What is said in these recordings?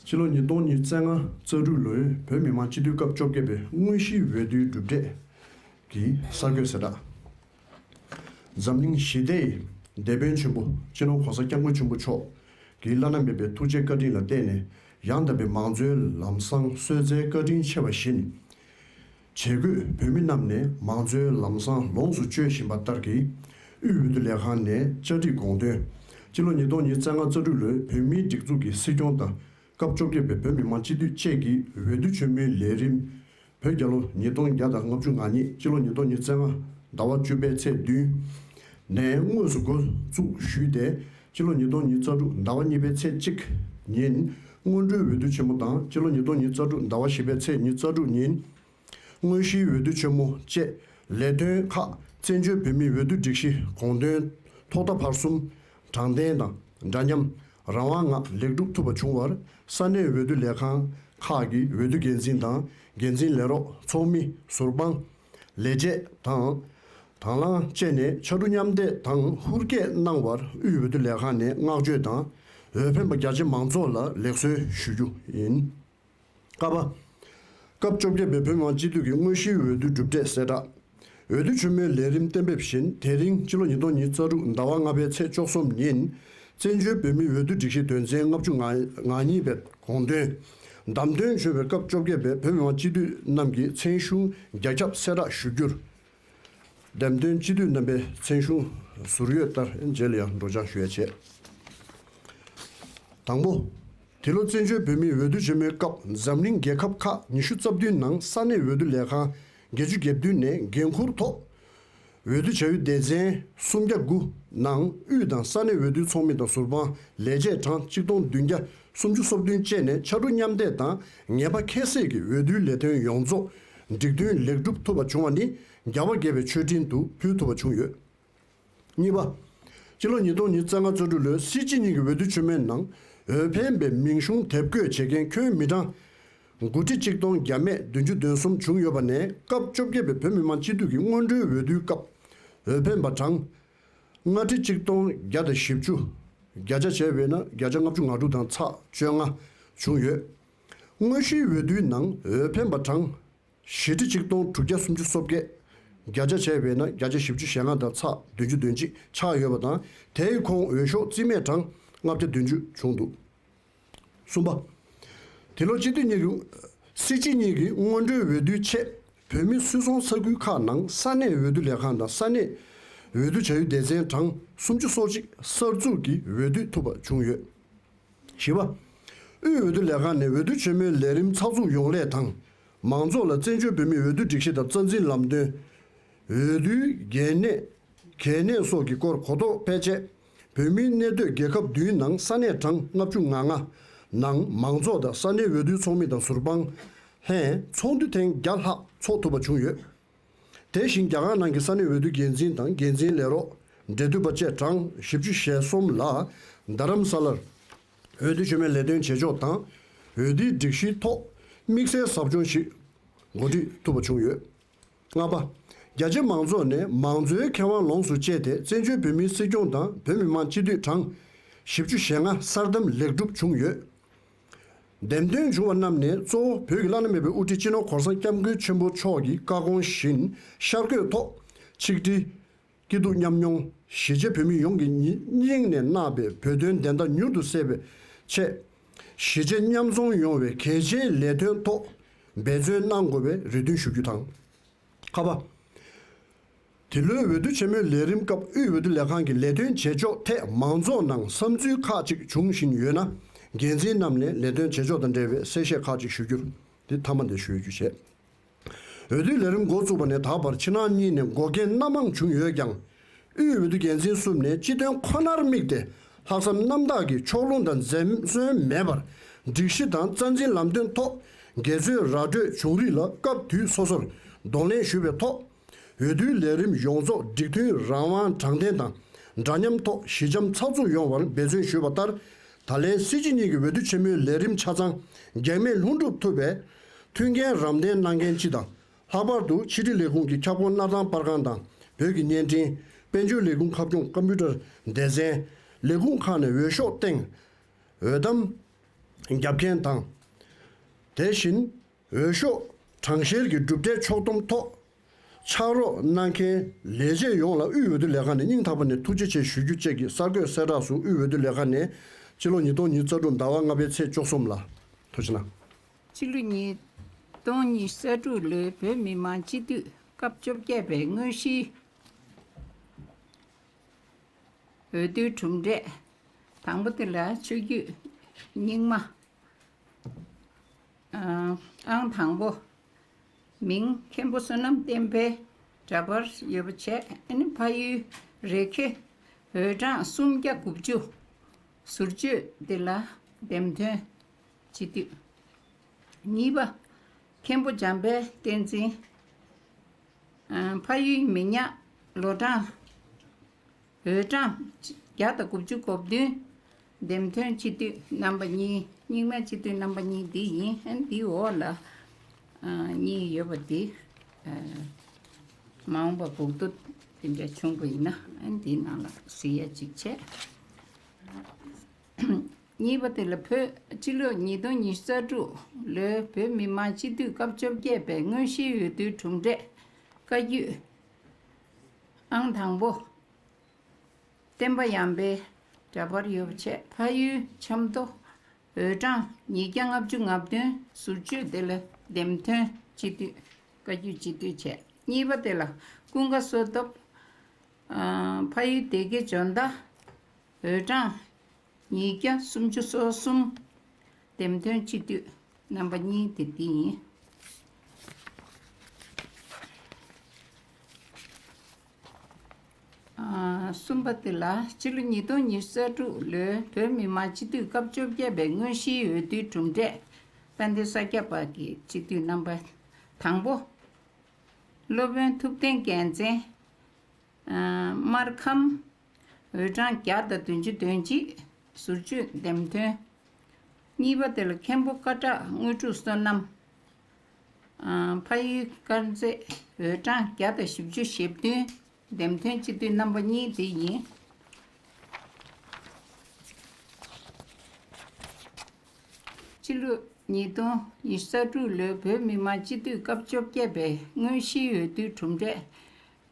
ཕྱི་ལོ་ཉིས་སྟོང་ཉིས་བརྩེགས་ལྔ་རྩ་དྲུག་ལོའི་བོད་མི་མང་སྤྱི་འཐུས་སྐབས་བཅོ་བརྒྱད་པའི་དངོས་གཞིའི་འོས་བསྡུའི་གྲུབ་འབྲས་ཀྱི་གསར་འགོད་གསལ་བསྒྲགས། འཛམ་གླིང་ཞི་བདེའི་དེད་དཔོན་ཆེན་པོ་སྤྱི་ནོར་གོང་ས་སྐྱབས་མགོན་ཆེན་པོ་མཆོག་གི་བླ་ན་མེད་པའི་ཐུགས་རྗེ་བཀའ་དྲིན་ལ་བརྟེན་ནས་ཡང་དག་པའི་མང་གཙོའི་ལམ་བཟང་གསོལ་མཛད་བཀའ་དྲིན་ཆེ་བ་བཞིན། བྱེད་སྒོས་བོད་མི་རྣམས་ནས་མང་གཙོའི་ལམ་བཟང་ལོངས་སུ་སྤྱོད་བཞིན་པ་ལྟར་གྱིས། དབུས་འོས་བསྡུ་ལས་ཁང་ནས་བཅའ་སྒྲིག་དགོངས་དོན། སྤྱི་ལོ་ཉིས་སྟོང་ཉིས་བརྩེགས་ལྔ་རྩ་དྲུག་ལོའི་བོད་མིའི་སྒྲིག་འཛུགས་ཀྱི་སྲིད་སྐྱོང་དང་སྐབས་བཅོ་བརྒྱད་པའི་བོད་མི་མང་སྤྱི་འཐུས་བཅས་ཀྱི་འོས་བསྡུ་ཆེན་མོའི་ལས་རིམ། བོད་རྒྱལ་ལོ་ཉིས་སྟོང་བརྒྱ་དང་ལྔ་བཅུ་ང་གཉིས་སྤྱི་ལོ་ཉིས་སྟོང་ཉིས་བརྩེགས་ལྔ་ཟླ་བ་བཅུ་པའི་ཚེས་བདུན། ནས་དངོས་སུ་འགོ་འཛུགས་ཞུས་ཏེ་སྤྱི་ལོ་ཉིས་སྟོང་ཉིས་རྩ་དྲུག་ཟླ་བ་གཉིས་པའི་ཚེས་གཅིག་ཉིན། སྔོན་འགྲོའི་འོས་བསྡུ་ཆེན་མོ་དང་སྤྱི་ལོ་ཉིས་སྟོང་ཉིས་རྩ་དྲུག་ཟླ་བ་བཞི་པའི་ཚེས་ཉིས་རྩ་དྲུག་ཉིན། དངོས་གཞིའི་འོས་བསྡུ་ཆེན་མོ་བཅས་ལས་དོན་ཁག་བཙན་བྱོལ་བོད་མིའི་འོས་བསྡུ་སྒྲིག་གཞི་དགོངས་དོན་ཐོག་མཐའ་བར་གསུམ་དྲང་བདེན་དང་འདྲ་མཉམ་རང་དབང་ངང་ལེགས་འགྲུབ་ཐུབ་པ་བྱུང་བར་ས་གནས་འོས་བསྡུ་ལས་ཁང་ཁག་གི་འོས་བསྡུ་འགན་འཛིན་དང་འགན་འཛིན་ལས་རོགས་ཚོགས་མི་ཟུར་དཔང། ལས་བྱེད་དང། དང་བླངས་བཅས་ནས་ཕྱ་གྲུ་མཉམ་འདེགས་དང་ཧུར་སྐྱེད་གནང་བར་དབུས་འོས་བསྡུ་ལས་ཁང་ནས་བསྔགས་བརྗོད་དང་འོས་འཕེན་པ་རྒྱ་ཆེ་མང་ཚོགས་ལ་ལེགས་གསོལ་ཞུ་རྒྱུ་ཡིན། ཀ་པ། སྐབས་བཅོ་བརྒྱད་པའི་བོད་མང་སྤྱི་འཐུས་ཀྱི་དངོས་གཞིའི་འོས་བསྡུའི་གྲུབ་འབྲས་གསལ་བསྒྲགས། འོས་བསྡུ་ཆེན་མོའི་ལས་རིམ་གཏན་འབེབས་བཞིན་དེ་རིང་སྤྱི་ལོ་ཉིས་སྟོང་ཉིས་རྩ་དྲུག་ཟླ་བ་ལྔ་པའི་ཚེས་བཅོ་གསུམ་ཉིན། བཙན་བྱོལ་བོད་མིའི་འོས་བསྡུ་སྒྲིག་གཞི་དོན་ཚན་ལྔ་བཅུ་ང་གཉིས་པའི་དགོངས་དོན། བདམས་ཐོན་བྱོས་པའི་སྐབས་བཅོ་བརྒྱད་པའི་བོད་མི་མང་སྤྱི་འཐུས་རྣམས་ཀྱི་མཚན་གཞུང་རྒྱ་ཁྱབ་གསལ་བསྒྲགས་ཞུ་རྒྱུར། འདེམས་ཐོན་སྤྱི་འཐུས་རྣམ་པའི་མཚན་གཞུང་ཟུར་ཡོད་ལྟར་མཇལ་ཡང་སྒྲོག་སྦྱང་ཞུ་ཡ་བྱས། དང་པོ། དེ་ལོ་བཙན་བྱོལ་བོད་མིའི་འོས་བསྡུ་ཆེན་མོའི་སྐབས་འཛམ་གླིང་རྒྱལ་ཁབ་ཁག་ཉི་ཤུ་རྩ་བདུན་ནང་ས་གནས་འོས་བསྡུ་ལས་ཁང་བརྒྱད་ཅུ་གྱ་བདུན་ནས་འགན་འཁུར་ཐོག་འོས་བསྡུ་བྱ་ཡུལ་སྡེ་ཚན་སུམ་བརྒྱ་དགུ་ནང་དབུས་དང་ས་གནས་འོས་བསྡུའི་ཚོགས་མི་དང་ཟུར་དཔང་ལས་བྱེད་གྲངས་གཅིག་སྟོང་བདུན་བརྒྱ་སུམ་ཅུ་སོ་བདུན་བཅས་ནས་ཕྱར་གྲུ་མཉམ་འདེགས་དང་ངེས་པ་ཁྱད་བསད་ཀྱིས་འོས་བསྡུའི་ལས་དོན་ཡོངས་རྫོགས་འགྲིག་མཐུན་ལེགས་འགྲུབ་ཐུབ་པ་བྱུང་བ་ནི་རྒྱ་བོད་དགེ་བའི་ཆོས་འབྲེལ་དུ་ཕུལ་ཐུབ་པ་བྱུང་ཡོད། གཉིས་པ། སྤྱི་ལོ་ཉིས་སྟོང་ཉིས་བརྩེགས་ལྔ་བཅུ་དྲུག་ལོའི་སྲིད་སྤྱི་གཉིས་ཀྱི་འོས་བསྡུ་ཆུ་མེད་ནང་འོས་འཕེན་པའི་མིང་གཞུང་དེབ་བཀོད་བྱེད་མཁན་ཁྱོན་མི་གྲངས་དགུ་ཁྲི་གཅིག་སྟོང་བརྒྱ་མེད་བདུན་ཅུ་དོན་གསུམ་བྱུང་ཡོད་པ་ནས་སྐབས་བཅོ་བརྒྱད་པའི་བོད་མི་མང་སྤྱི་འཐུས་ཀྱི་སྔོན་འགྲོའི་འོས་བསྡུའི་སྐབས་འོས་འཕེན་པ་གྲངས་ལྔ་ཁྲི་གཅིག་སྟོང་བརྒྱ་དང་བཞི་བཅུ། བརྒྱ་ཆ་བྱས་པས་ན་བརྒྱ་ཆ་ལྔ་བཅུ་ང་དྲུག་དང་ཚགས་བཅོ་ལྔ་བྱུང་ཡོད། དངོས་གཞིའི་འོས་བསྡུའི་ནང་འོས་འཕེན་པ་གྲངས། ཞེ་ཁྲི་ཆིག་སྟོང་དྲུག་བརྒྱ་སུམ་ཅུ་སོ་བརྒྱད། བརྒྱ་ཆ་བྱས་པས་ན་བརྒྱ་ཆ་བཞི་བཅུ་ཞེ་ལྔ་དང་ཚ་བདུན་ཅུ་དོན་གཅིག་ཆགས་ཡོད་པ་དང་དེའི་ཁོངས་འོས་ཤོག་རྩིས་མེད་གྲངས་ལྔ་བརྒྱ་བདུན་ཅུ་བྱུང་འདུག་གསུམ་པ། དེ་ལོ་སྤྱི་འཐུས་གཉིས་ཀྱི། སྲིད་སྤྱི་གཉིས་ཀྱི་སྔོན་འགྲོའི་འོས་བསྡུའི་ཆེད་བོད་མི་སུད་ཚོང་ས་ཁུལ་ཁག་ནང་ས་གནས་འོས་བསྡུ་ལས་ཁང་དང་ས་གནས་འོས་བསྡུ་བྱ་ཡུལ་སྡེ་ཚན་གྲངས་སུམ་ཅུ་སོ་གཅིག་གསར་འཛུགས་ཀྱིས་འོས་བསྡུ་ཐུབ་པ་བྱུང་ཡོད། བཞི་བ། དབུས་འོས་བསྡུ་ལས་ཁང་ནས་འོས་བསྡུ་ཆེན་མོའི་ལས་རིམ་ཚགས་ཚུགས་ཡོང་སླད་དང། མང་ཚོགས་ལ་བཙན་བྱོལ་བོད་མིའི་འོས་བསྡུ་སྒྲིག་གཞི་དང་རྩ་འཛིན་ལམ་སྟོན། འོས་བསྡུའི་འགན་གནས། གལ་གནད་སོགས་ཀྱི་སྐོར་གོ་རྟོགས་སྤེལ་ཆེད། བོད་མིའི་གནས་སྡོད་རྒྱལ་ཁབ་བདུན་ནང་ས་གནས་གྲངས་ལྔ་བཅུ་ང་ལྔ། ནང་མང་ཚོགས་དང་ས་གནས་འོས་བསྡུའི་ཚོགས་མི་དང་ཟུར་དཔང། ལྷན་ཚོགས་འདུ་ཐེངས་བརྒྱ་ལྷག་ཚོགས་ཐུབ་པ་བྱུང་ཡོད། དེ་བཞིན་རྒྱ་གར་ནང་གི་ས་གནས་འོས་བསྡུ་འགན་འཛིན་དང་འགན་འཛིན་ལས་རོགས། འབྲེལ་མཐུད་པ་བཅས་གྲངས་བཞི་བཅུ་ཞེ་གསུམ་ལ་རྡ་རམ་ས་ལར་འོས་བསྡུ་བྱེད་མིན་ལས་དོན་བྱེད་ཕྱོགས་དང་འོས་བསྡུའི་སྒྲིག་གཞིའི་ཐོག་དམིགས་བསལ་ཟབ་སྦྱོང་ཞིག་གོ་སྒྲིག་ཐུབ་པ་བྱུང་ཡོད། ལྔ་པ། རྒྱ་ཆེ་མང་ཚོགས་ནས་མང་གཙོའི་ཁེ་དབང་ལོངས་སུ་སྤྱད་དེ་བཙན་བྱོལ་བོད་མིའི་སྲིད་སྐྱོང་དང་བོད་མི་མང་སྤྱི་འཐུས་གྲངས་བཞི་བཅུ་ཞེ་ལྔ་གསར་བདམས་ལེགས་གྲུབ་བྱུང་ཡོད། འདེམས་ཐོན་བྱུང་བ་རྣམས་ནས་གཙོ་བོ་བོད་ཀྱི་བླ་ན་མེད་པའི་དབུ་ཁྲིད་སྤྱི་ནོར་གོང་ས་སྐྱབས་མགོན་ཆེན་པོ་མཆོག་གི་བཀའ་དགོངས་བཞིན་ཤར་བསྐོས་ཐོག་ཆིག་སྒྲིལ། སྐྱིད་སྡུག་མཉམ་མྱོང། གཞིས་བྱེས་བོད་མི་ཡོངས་ཀྱི་སྙིང་ནས་བརྣགས་པའི་བོད་དོན་བདེན་མཐའ་མྱུར་དུ་གསལ་བའི་ཆེད། གཞིས་བྱེས་མཉམ་འཛོམས་ཡོང་བའི་གལ་ཆེའི་ལས་དོན་ཐོག་འབད་བརྩོན་གནང་དགོས་པའི་རེ་འདུན་ཞུ་རྒྱུ་དང། ཁ་བ། འདི་ལོའི་འོས་བསྡུ་ཆེན་མོའི་ལས་རིམ་སྐབས་དབུས་འོས་བསྡུ་ལས་ཁང་གི་ལས་དོན་བྱེད་ཕྱོགས་ཐད་མང་ཚོགས་ནང་བསམ་ཚུལ་ཁག་ཅིག་འབྱུང་བཞིན་ཡོད་ན། འགན་འཛིན་རྣམས་ནས་ལས་དོན་བྱེད་ཕྱོགས་དང་འབྲེལ་བའི་གསལ་བཤད་ཁག་ཅིག་ཞུ་རྒྱུ་འདི་མཐའ་མ་འདས་ཞུ་རྒྱུ་བྱས། འོས་བསྡུའི་ལས་རིམ་འགོ་བཙུགས་པ་ནས་ད་བར་ཕྱི་ནང་གཉིས་ནས་འགོག་རྐྱེན་སྣ་མང་བྱུང་ཡོད་ཀྱང། དབུས་འོས་བསྡུ་འགན་འཛིན་གསུམ་ནས་སྤྱི་དོན་ཁོ་ནར་དམིགས་ཏེ་ལྷག་བསམ་རྣམ་དག་གིས་ཕྱོགས་ལྷུང་དང་འཛེམ་ཟོན་མེད་པར་སྒྲིག་གཞི་དང་རྩ་འཛིན་ལམ་སྟོན་ཐོག་འགལ་རྩོད་ར་སྤྲོད་བྱུང་རིགས་ལ་སྐབས་དུས་སོ་སོར་གདོང་ལེན་ཞུས་པའི་ཐོག་འོས་བསྡུའི་ལས་རིམ་ཡོངས་རྫོགས་སྒྲིག་མཐུན་རང་དབང་དྲང་བདེན་དང་འདྲ་མཉམ་ཐོག་ཞི་འཇམ་ཚགས་ཚུགས་ཡོང་བར་འབད་བརྩོན་ཞུས་པ་ལྟར་ད་ལན་སྲིད་སྤྱི་གཉིས་ཀྱི་འོས་བསྡུ་ཆེན་མོའི་ལས་རིམ་ཆ་ཚང་གེགས་མེད་ལྷུན་འགྲུབ་ཐུབ་པས་མཐུན་རྐྱེན་རམ་འདེགས་གནང་མཁན་སྤྱི་དང་ལྷག་པར་དུ་ཕྱི་དྲིལ་ལས་ཁུངས་ཀྱི་ཁྱབ་ཁོངས་སྣར་ཐང་དཔར་ཁང་དང་བོད་ཀྱི་བརྙན་འཕྲིན། དཔལ་འབྱོར་ལས་ཁུངས་ཁ་སྐྱོང་ཀམ་པུའུ་ཏར་སྡེ་ཚན། ལས་ཁུངས་ཁག་ནས་འོས་ཤོག་སྟེང་འོས་གཏམ་བརྒྱབ་མཁན་དང། དེ་བཞིན་འོས་ཤོག་གྲངས་བཤེར་གྱི་གྲུབ་འབྲས་ཕྱོགས་སྡོམ་ཐོག་ཕྱག་རོགས་གནང་མཁན་ལས་བྱེད་ཡོངས་ལ་དབུས་འོས་བསྡུ་ལས་ཁང་ནས་སྙིང་ཐག་པ་ནས་ཐུགས་རྗེ་ཆེ་ཞུ་རྒྱུ་བཅས་ཀྱི་གསར་འགོད་གསལ་བསྒྲགས་སུ་དབུས་འོས་བསྡུ་ལས་ཁང་ནས་ཕྱི་ལོ་ཉིས་སྟོང་ཉིས་རྩ་དྲུག་ཟླ་བ་ལྔ་པའི་ཚེས་བཅོ་གསུམ་ལ། ཕྱི་ལོ་ཉིས་སྟོང་ཉི་ཤུ་རྩ་དྲུག་ལོའི་བོད་མི་མང་སྤྱི་འཐུས་སྐབས་བཅོ་བརྒྱད་པའི་དངོས་གཞིའི་འོས་བསྡུའི་གྲུབ་འབྲས་དང་པོ་དེ་ལ་ཆོས་བརྒྱུད་རྙིང་མ་ཨང་དང་པོ་མིང་མཁན་པོ་བསོད་ནམས་བསྟན་འཕེལ་འདྲ་པར་ཡོད་པ་བྱས་ནས་ཕ་ཡུལ་རེ་ཁེ་འོས་གྲངས་སུམ་བརྒྱ་དགུ་བཅུ་ཟུར་བཅོས་དེ་ལ་འདེམས་ཐོན་བྱེད་དུས། གཉིས་པ། མཁན་པོ་འཇམ་དཔལ་བསྟན་འཛིན། ཕ་ཡུལ་མི་ཉག་ལོ་གྲངས། འོས་གྲངས། བརྒྱ་དང་དགུ་བཅུ་གོ་བདུན། འདེམས་ཐོན་སྤྱི་འཐུས་རྣམ་པ་གཉིས། རྙིང་མའི་སྤྱི་འཐུས་རྣམ་པ་གཉིས་འདི་ཡིན། འདིའི་འོག་ལ། གཉིས་ཡོད་པ་འདི། མ་འོངས་པ་དགུ་བསྡུ། འདི་འདྲ་ཆུང་པོ་ཡིན་ན། འདིའི་ནང་ལ་གཟི་ཡ་གཅིག་བྱས། གཉིས་པ་དེ་ལ་བོད་སྤྱི་ལོ་ཉིས་སྟོང་ཉིས་བརྩ་དྲུག་ལོའི་བོད་མི་མང་སྤྱི་འཐུས་སྐབས་བཅོ་བརྒྱད་པའི་དངོས་གཞིའི་འོས་བསྡུའི་གྲུབ་འབྲས་བཀའ་བརྒྱུད་ཨང་དང་པོ། བསྟན་པ་ཡངས་པའི་འདྲ་པར་ཡོ་བྱད་ཕ་ཡུལ་ཆབ་མདོ་འོས་གྲངས་ཉིས་བརྒྱ་ལྔ་བཅུ་ང་བདུན་ཟུར་བཅོས་དེ་ལ་འདེམས་ཐོན་སྤྱི་འཐུས་བཀའ་བརྒྱུད་སྤྱི་འཐུས་བྱས་གཉིས་པ་དེ་ལ་ཀུན་དགའ་བསོད་སྟོབས། ཕ་ཡུལ་སྡེ་དགེ་འཇོ་མདའ། འོས་གྲངས། ཉིས་བརྒྱ་སུམ་ཅུ་སོ་གསུམ། འདེམས་ཐོན་སྤྱི་འཐུས་རྣམ་པ་གཉིས་དེ་འདི་ཡིན། གསུམ་པ་དེ་ལ་ཕྱི་ལོ་ཉིས་སྟོང་ཉིས་བརྒྱ་རྩ་དྲུག་ལོའི་བོད་མི་མང་སྤྱི་འཐུས་སྐབས་བཅོ་བརྒྱད་པའི་དངོས་གཞིའི་འོས་བསྡུའི་གྲུབ་འབྲས་དཔལ་ལྡན་ས་སྐྱ་པ་གི་སྤྱི་འཐུས་རྣམ་པ་དང་པོ། སློབ་དཔོན་ཐུབ་བསྟན་རྒྱལ་མཚན། སྨར་ཁམས། འོས་གྲངས་བརྒྱ་དང་བདུན་ཅུ་དོན་གཅིག་ཟུར་བཅོས་འདེམས་ཐོན། གཉིས་པ་དེ་ལ་མཁན་པོ་ཀ་བྲག་དངོས་གྲུབ་བསོད་ནམས། ཕ་ཡུལ་དཀར་མཛེས་འོས་གྲངས་བརྒྱ་དང་བཞི་བཅུ་ཞེ་བདུན་འདེམས་ཐོན་སྤྱི་འཐུས་རྣམ་པ་གཉིས་དེ་ཡིན། སྤྱི་ལོ་ཉིས་སྟོང་ཉི་ས་དྲུག་ལོའི་བོད་མི་མང་སྤྱི་འཐུས་སྐབས་བཅོ་བརྒྱད་པའི་དངོས་གཞིའི་འོས་བསྡུའི་གྲུབ་འབྲས།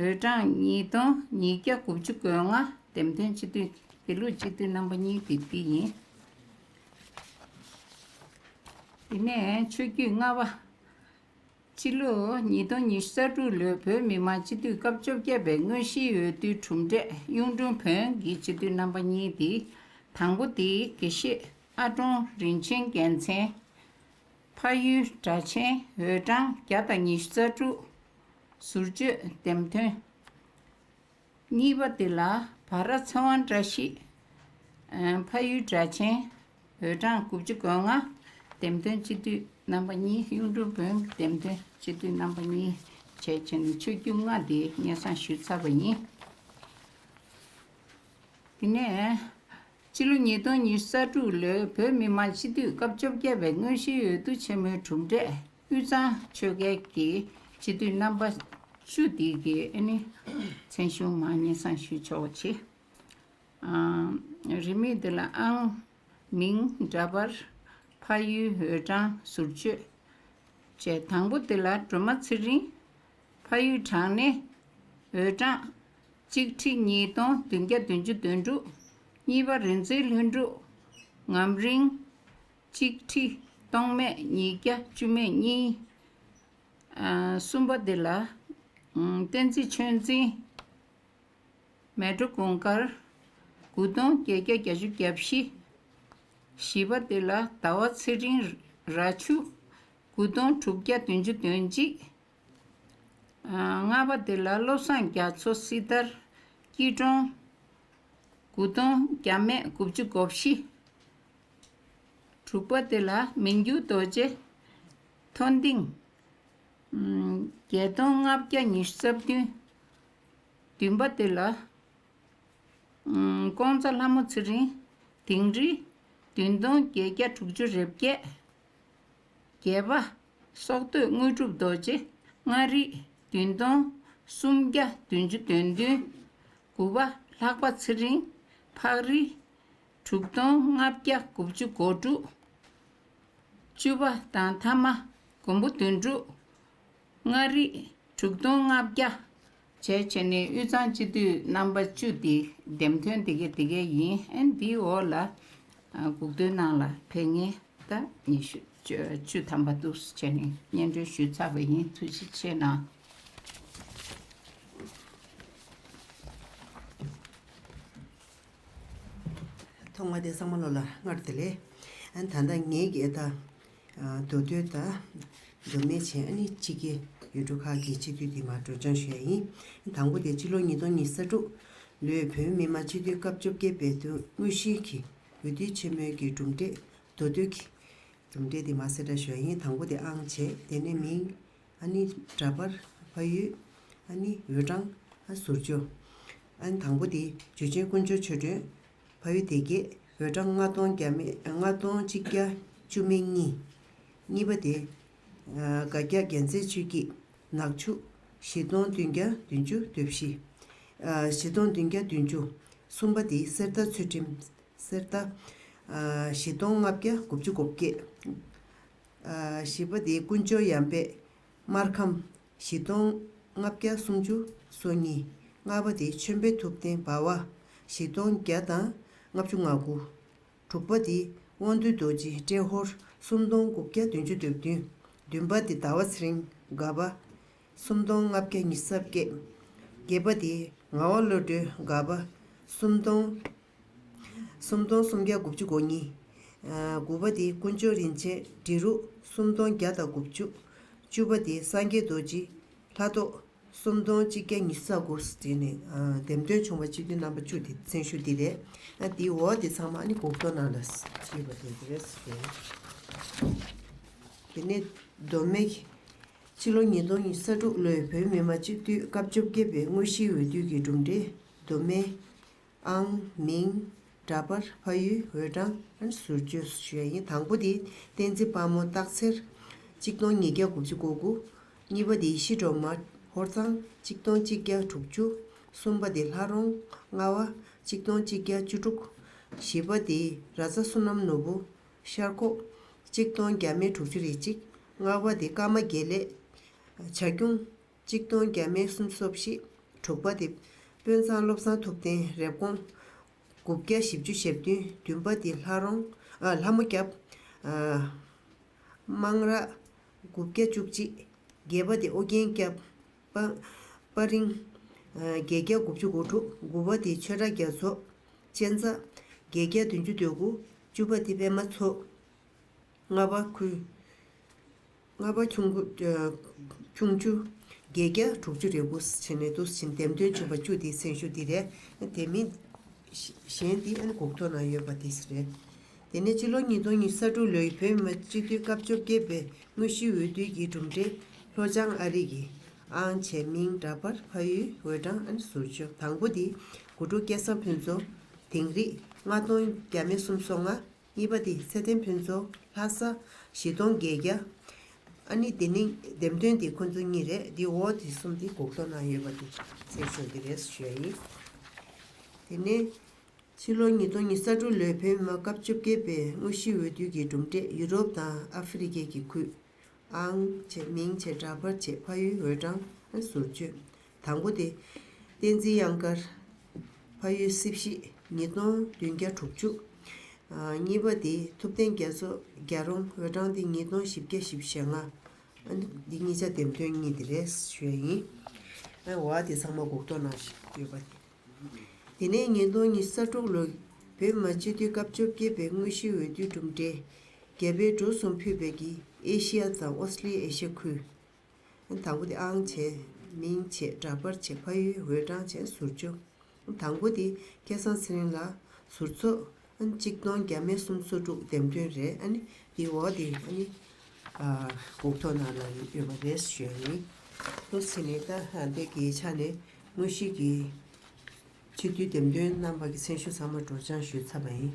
འོས་གྲངས་གཉིས་སྟོང་ཉིས་བརྒྱ་དགུ་བཅུ་དགུ་ལྔ་འདེམས་ཐོན་སྤྱི་འཐུས་དེ་ལུགས་སྤྱི་འཐུས་རྣམ་པ་གཉིས་དེ་འདི་ཡིན། དེ་ནས་ཆོས་བརྒྱུད་ལྔ་པ། སྤྱི་ལོ་ཉིས་སྟོང་ཉི་ཤུ་རྩ་དྲུག་ལོའི་བོད་མི་མང་སྤྱི་འཐུས་སྐབས་བཅོ་བརྒྱད་པའི་དངོས་གཞིའི་འོས་བསྡུའི་གྲུབ་འབྲས་གཡུང་དྲུང་བོན་གྱི་སྤྱི་འཐུས་རྣམ་པ་གཉིས་དེ། དང་པོ་དེ་དགེ་བཤེས་ཨ་ཀྲོང་རིན་ཆེན་རྒྱལ་མཚན། ཕ་ཡུལ་སྦྲ་ཆེན་འོས་གྲངས་བརྒྱ་དང་ཉི་ཤུ་རྩ་དྲུག། ཟུར་བརྗོད་འདེམས་ཐོན། གཉིས་པ་འདི་ལ་བ་ར་ཚེ་དབང་བཀྲ་ཤིས། ཕ་ཡུལ་སྦྲ་ཆེན། འོས་གྲངས་དགུ་བཅུ་གོ་ལྔ། འདེམས་ཐོན་སྤྱི་འཐུས་རྣམ་པ་གཉིས་གཡུང་དྲུང་བོན་འདེམས་ཐོན་སྤྱི་འཐུས་རྣམ་པ་གཉིས་བྱས་བྱས་ནས་ཆོས་བརྒྱུད་མངའ་སྡེའི་སྙན་བཟང་ཞུས་ཚར་བ་ཡིན། དེ་ནས། ཕྱི་ལོ་ཉིས་སྟོང་ཉི་ས་དྲུག་ལོའི་བོད་མི་མང་སྤྱི་འཐུས་སྐབས་བཅོ་བརྒྱད་པའི་དངོས་གཞིའི་འོས་བསྡུ་ཆེན་མོའི་གྲུབ་འབྲས། དབུས་གཙང་ཆོལ་ཁའི་གྱི་སྤྱི་འཐུས་རྣམ་པ་ཅུ་སྡིག་གི་ཨེ་ནི་མཚན་གཞུང་མ་ངེས་གསང་ཞུ་ཆོག་པ་ཆེ། རིས་མེད་འདི་ལ་ཨང། མིང། འདྲ་པར། ཕ་ཡུལ་འོས་གྲངས་ཟུར་བཅོས། བཅས་དང་པོ་འདི་ལ་སྒྲོལ་མ་ཚེ་རིང། ཕ་ཡུལ་གྲངས་ནི། འོས་གྲངས། གཅིག་ཁྲི་གཉིས་སྟོང་བདུན་བརྒྱ་བདུན་ཅུ་དོན་དྲུག། གཉིས་པ་རི་འཛེག་ལྷུན་འགྲུབ། ངམ་རིང། གཅིག་ཁྲི་སྟོང་མས་ཉིས་བརྒྱ་བཅུ་མས་གཉིས། གསུམ་པ་འདི་ལ་བསྟན་རྩིས་ཆོས་འཛིན། མལ་གྲོ་གུང་དཀར་དགུ་སྟོང་བརྒྱད་བརྒྱ་བརྒྱ་བཅུ་བརྒྱ་བཞི། བཞི་པ་འདི་ལ་ཟླ་བ་ཚེ་རིང་ར་ཆུ་དགུ་སྟོང་དྲུག་བརྒྱ་བདུན་ཅུ་དོན་གཅིག། ལྔ་པ་འདི་ལ་བློ་བཟང་རྒྱ་མཚོ་སྲི་ཐར་སྐྱིད་གྲོང་དགུ་སྟོང་བརྒྱ་མས་དགུ་བཅུ་གོ་བཞི། དྲུག་པ་དེ་ལ་མི་འགྱུར་རྡོ་རྗེ། མཐོན་མཐིང། བརྒྱད་སྟོང་ལྔ་བརྒྱ་ཉི་ཤུ་རྩ་བདུན། བདུན་པ་དེ་ལ། ཀོང་ཚ་ལྷ་མོ་ཚེ་རིང་དིང་རི། བདུན་སྟོང་བརྒྱད་བརྒྱ་དྲུག་ཅུ་རེ་བརྒྱད། བརྒྱད་པ། སྲོག་བསྡོས་དངོས་གྲུབ་རྡོ་རྗེ་ལྔ་རིགས་བདུན་སྟོང། སུམ་བརྒྱ་བདུན་ཅུ་དོན་བདུན། དགུ་པ། ལྷག་པ་ཚེ་རིང་ཕག་རི། དྲུག་སྟོང་ལྔ་བརྒྱ་དགུ་བཅུ་གོ་དྲུག། བཅུ་པ་དང་ཐ་མ་མགོན་པོ་བདུན་དྲུག། ལྔ་རིག་དྲུག་སྟོང་ལྔ་བརྒྱ། བྱའི་ཆོས་ནི་དབུས་གཙང་སྤྱི་འཐུས་རྣམ་པ་བཅུ་འདི་འདེམས་ཐོན་དེ་གའི་དེ་གའི་ཡིན་འདིའི་འོག་ལ་སྒུག་འདོན་གནང་ལ་ཕེབས་ངེས་ད་ཉི་ཤུ་བཅུ་ཐམ་པ་འདུག་བྱས་ནས་སྙན་སྒྲོན་ཞུས་ཚར་བ་ཡིན་ཐུགས་རྗེ་ཆེ་གནང། ཐོག་མ་དེ་གསང་མ་ལོ་ལ་སྔར་དེ་ལས། ད་ལྟ་ངེད་ཀྱི་ཨེ་ད། མདོ་སྟོད་ད། མདོ་སྨད་ཆེན་ཨ་ནི་གཅིག་གི། ཡུལ་གྲུ་ཁག་གི་སྤྱི་འཐུས་འདི་མར་བགྲོས་སྦྱང་ཞུ་ཡ་ཡིན། དང་པོ་དེ་སྤྱི་ལོ་ཉིས་སྟོང་ཉིས་ས་དྲུག། ལོའི་བོད་མི་མང་སྤྱི་འཐུས་སྐབས་བཅོ་བརྒྱད་པའི་དོན་དངོས་གཞིའི་གི་འོས་བསྡུའི་ཆེན་མོའི་གི་གྲུབ་འབྲས། མདོ་སྟོད་ཀྱི། གྲུབ་འབྲས་དེ་མར་གསལ་བསྒྲགས་ཞུ་ཡ་ཡིན་དང་པོ་དེ་ཨང་བྱས་དེ་ནས་མིང། ཨ་ནི་འདྲ་པར་ཕ་ཡུལ་ཨ་ནི་འོད་གྲང་ཨ་ཟུར་ཆུ་ཨ་ནི་དང་པོ་དེ་འཇུ་ཆེན་ཀུན་སྤྱོད་ཆོས་སྒྲོན་ཕ་ཡུལ་སྡེ་བརྒྱད་འོད་གྲང་ལྔ་སྟོང་བརྒྱ་མེད་ལྔ་སྟོང་གཅིག་བརྒྱ་བཅུ་མེད་གཉིས་གཉིས་པ་དེ་དགའ་བརྒྱ་རྒྱ་མཚན་ཆོས་སྐྱིད་ནག་ཆུ་བཞི་སྟོང་བདུན་བརྒྱ་བདུན་ཅུ་བདུན་བཞི་བཞི་སྟོང་བདུན་བརྒྱ་བདུན་ཅུ་གསུམ་པ་དེ་གསེར་རྟ་ཚུལ་ཁྲིམས་གསེར་རྟ་བཞི་སྟོང་ལྔ་བརྒྱ་དགུ་བཅུ་གོ་བརྒྱད་བཞི་པ་དེ་ཀུན་སྤྱོད་ཡང་པདྨར་ཁམས། བཞི་སྟོང་ལྔ་བརྒྱ་སུམ་ཅུ་སོ་གཉིས། ལྔ་པ་དེ་མཆོད་འབེབས་ཐུབ་བསྟན་འབར་བ། བཞི་སྟོང་བརྒྱ་དང་ལྔ་བཅུ་ང་དགུ། དྲུག་པ་དེ་དབང་འདུས་རྡོ་རྗེ་ཏྲེ་ཧོར། སུམ་སྟོང་དགུ་བརྒྱ་བདུན་ཅུ་དོན་བདུན། བདུན་པ་དེ་ཟླ་བ་ཚེ་རིང་དགའ་བ། སུམ་སྟོང་ལྔ་བརྒྱ་ཉི་ས་བརྒྱད། བརྒྱད་པ་དེ་ངག་དབང་བློ་གྲོས་དགའ་བ། སུམ་སྟོང། སུམ་སྟོང་སུམ་བརྒྱ་དགུ་བཅུ་གོ་གཉིས། དགུ་པ་དེ་ཀུན་སྤྱོད་རིན་ཆེན་འབྲི་རུ་སུམ་སྟོང་བརྒྱ་དང་དགུ་བཅུ། བཅུ་པ་དེ་སངས་རྒྱས་རྡོ་རྗེ་ལྷ་ཐོག་སུམ་སྟོང་གཅིག་བརྒྱ་ཉི་ས་དགུ། དེ་ནས་འདེམས་ཐོན་བྱུང་བ་སྤྱི་འཐུས་རྣམ་པ་བཅུ་དེ་གསོན་ཤུགས་འདི་རེད། དེའི་འོག་དེ་ཚང་མ་ནི་གོ་བསྡུར་ནང་ལ་ཞུས་པ་དེ་རེད། དེ་ནས་མདོ་སྨད་ཀྱི་ཕྱི་ལོ་ཉིས་སྟོང་ཉི་ས་དྲུག་ལོའི་བོད་མི་མང་སྤྱི་འཐུས་སྐབས་བཅོ་བརྒྱད་པའི་དངོས་གཞིའི་འོས་བསྡུ་གྱི་གྲུབ་འབྲས་མདོ་སྨད་ཨང། མིང། འདྲ་པར་ཕ་ཡུལ་འོས་གྲངས་ཟུར་བརྗོད་སུ་བྱས་ཡིན་དང་པོ་དེ་བསྟན་འཛིན་དཔའ་མོ་སྟག་འཚེར། གཅིག་སྟོང་ཉིས་བརྒྱ་དགུ་བཅུ་གོ་དགུ། གཉིས་པ་དེ་ཤི་གྲོ་མ་ཧོར་གཙང་གཅིག་སྟོང་གཅིག་བརྒྱ་དྲུག་ཅུ། གསུམ་པ་དེ་ལྷ་རོང་རྔ་བ་གཅིག་སྟོང་གཅིག་བརྒྱ་བཅུ་དྲུག། བཞི་པ་དེ་ར་རྩ་བསོད་ནམས་ནོར་བུ་ཤར་ཁོག་གཅིག་སྟོང་བརྒྱ་མེད་དྲུག་ཅུ་རེ་གཅིག། ལྔ་བ་དེ་ཀརྨ་དགེ་ལེགས། བྱ་ཁྱུང། གཅིག་སྟོང་བརྒྱ་མེད་གསུམ་སོ་བཞི། དྲུག་པ་འདི། དཔོན་ཚང་བློ་བཟང་ཐུབ་བསྟན་རེབ་གོང། དགུ་བརྒྱ་བཞི་བཅུ་ཞེ་བདུན་བདུན་པ་འདི་ལྷ་རོང། ཨ། ལྷ་མོ་སྐྱབས། དམངས་རག། དགུ་བརྒྱ་བཅུ་གཅིག། བརྒྱད་པ་འདི་ཨོ་རྒྱན་སྐྱབས། དཔའ། རིང། བརྒྱད་བརྒྱ་དགུ་བཅུ་དགུ་དྲུག་དགུ་བ་འདི་ཆོས་གྲགས་རྒྱ་མཚོ། གཅན་ཚ། བརྒྱད་བརྒྱ་བདུན་བཅུ་དོད་དགུ་བཅུ་པ་འདི་པད་མ་མཚོ། ལྔ་པ་ཁུ། ལྔ་པ་ཁྱུང་ཁུ། ཁྱུང་ཆུ། བརྒྱད་བརྒྱ་དྲུག་ཅུ་རེ་དགུ་ཕྱེད་མའི་དུ་ཕྱིན་ལྡེམ་སྟོན་བྱུང་བ་བཅུ་དེའི་མཚན་ཞུ་འདི་རེད། དེ་མིན། གཞན་དེ་ཨན་གོག་ཐོ་ན་ཡོད་པ་དེ་རེད། དེ་ནས་སྤྱི་ལོ་ཉིས་སྟོང་ཉི་ས་དྲུག་ལོའི་བོད་མི་སྤྱི་འཐུས་སྐབས་བཅོ་བརྒྱད་པའི་དངོས་གཞིའི་འོས་བསྡུའི་གྱི་གྲུབ་འབྲས་ལྷོ་བྱང་ཨ་རིག་གི་ཨང་ཆེ་མིང་འདྲ་པར་ཕ་ཡུལ་འོས་གྲངས་ཨན་ཟུར་བཅུ་དང་པོ་དེ་དགུ་དྲུག་བརྒྱ་སམ་ཕུན་ཚོགས་དིང་རིག་ལྔ་སྟོང་བརྒྱ་མེད་གསུམ་སོ་ལྔ། གཉིས་པ་དེ་ཚེ་བརྟན་ཕུན་ཚོགས་ལྷ་ས། བཞི་སྟོང་བརྒྱད་བརྒྱ། ཨ་ནི་དེ་ནི་འདེམས་ཐོན་དེ་ཁོ་ཚོ་གཉིས་རེད་དེ་འོ་དེ་གསུམ་དེ་གོག་ཏོ་ན་ཡོད་པ་དེ་ཚེ་ཟེར་གྱི་རེད་ཞུ་ཡ་ཡིན། དེ་ནས་ཕྱི་ལོ་ཉིས་སྟོང་ཉི་ས་དྲུག་ལོའི་བོད་མི་མང་སྐབས་བཅོ་བརྒྱད་པའི་དངོས་གཞི་འོས་བསྡུ་གྱི་གྲུབ་འབྲས་ཡུ་རོབ་དང་ཨ་ཧྥེ་རི་ཁའི་གི་ཁུད། ཨང། མིང་བྱེ་བྲག་ཕར་ཆེ་ཕ་ཡུལ་འོས་གྲངས། ཟུར་བཅོས། དང་པོ་སྟེ། བསྟན་འཛིན་གཡང་དཀར་ཕ་ཡུལ་སྲིབ་བཞི་ཉིས་སྟོང་བདུན་བརྒྱ་དྲུག་ཅུ། གཉིས་པ་སྟེ་ཐུབ་བསྟན་རྒྱ་མཚོ་རྒྱ་རོང་འོད་དྲང་སྟེ་ཉིས་སྟོང་བཞི་བརྒྱ་བཞི་བཞི་ཞེ་ལྔ། འདི་གཉིས་ཆ་འདེམས་དོན་གཉིས་དེ་རེད་ཞོན་ཡིན། ཨེ་ཝྃ་དེ་ཚང་མ་གུག་ཐོ་ནང་ཡོད་པ་རེད། དེ་ནས་ཉིས་སྟོང་ཉི་ས་དྲུག་ལོ་བོད་མ་སྤྱི་འཐུས་སྐབས་བཅོ་བརྒྱད་པའི་དངོས་གཞིའི་འོས་བསྡུའི་གྲུབ་འབྲས། རྒྱ་བལ་འབྲུག་གསུམ་ཕུད་པའི་གིས་ཨེ་ཤི་ཡ་དང་ཨོ་སི་ལི་ཨེ་ཤི་ཡ་ཁུལ། དང་པོ་དེ་ཨང་བྱེད་མིང་བྱེད་འདྲ་པར་བྱེད་ཕ་ཡུལ་འོད་གྲངས་བྱེད་ཟུར་བཅུ། དང་པོ་དེ་སྐལ་བཟང་ཚེ་རིང་ལགས་ཟུར་ཚོགས། གཅིག་སྟོང་བརྒྱ་མེད་གསུམ་སོ་དྲུག་འདེམས་ཐོན་རེད་ཨ་ནི། དེའི་འོག་དེ་ཨ་ནི། དགུ་ཐོག་ནང་ལ་ཡོད་པ་རེད་ཞུས་ནས། ལྷུ་ཚིགས་ནས་ལྟ་ཧ་འདི་གའི་ཆ་ནས་དངོས་གཞི་གི། ཆེ་བསྟོད་འདེམས་ཐོན་རྣམ་པ་གྱི་མཚན་ཞུ་ཚང་མ་སྒྲོགས་སྦྱང་ཞུས་ཚར་བ་ཡིན།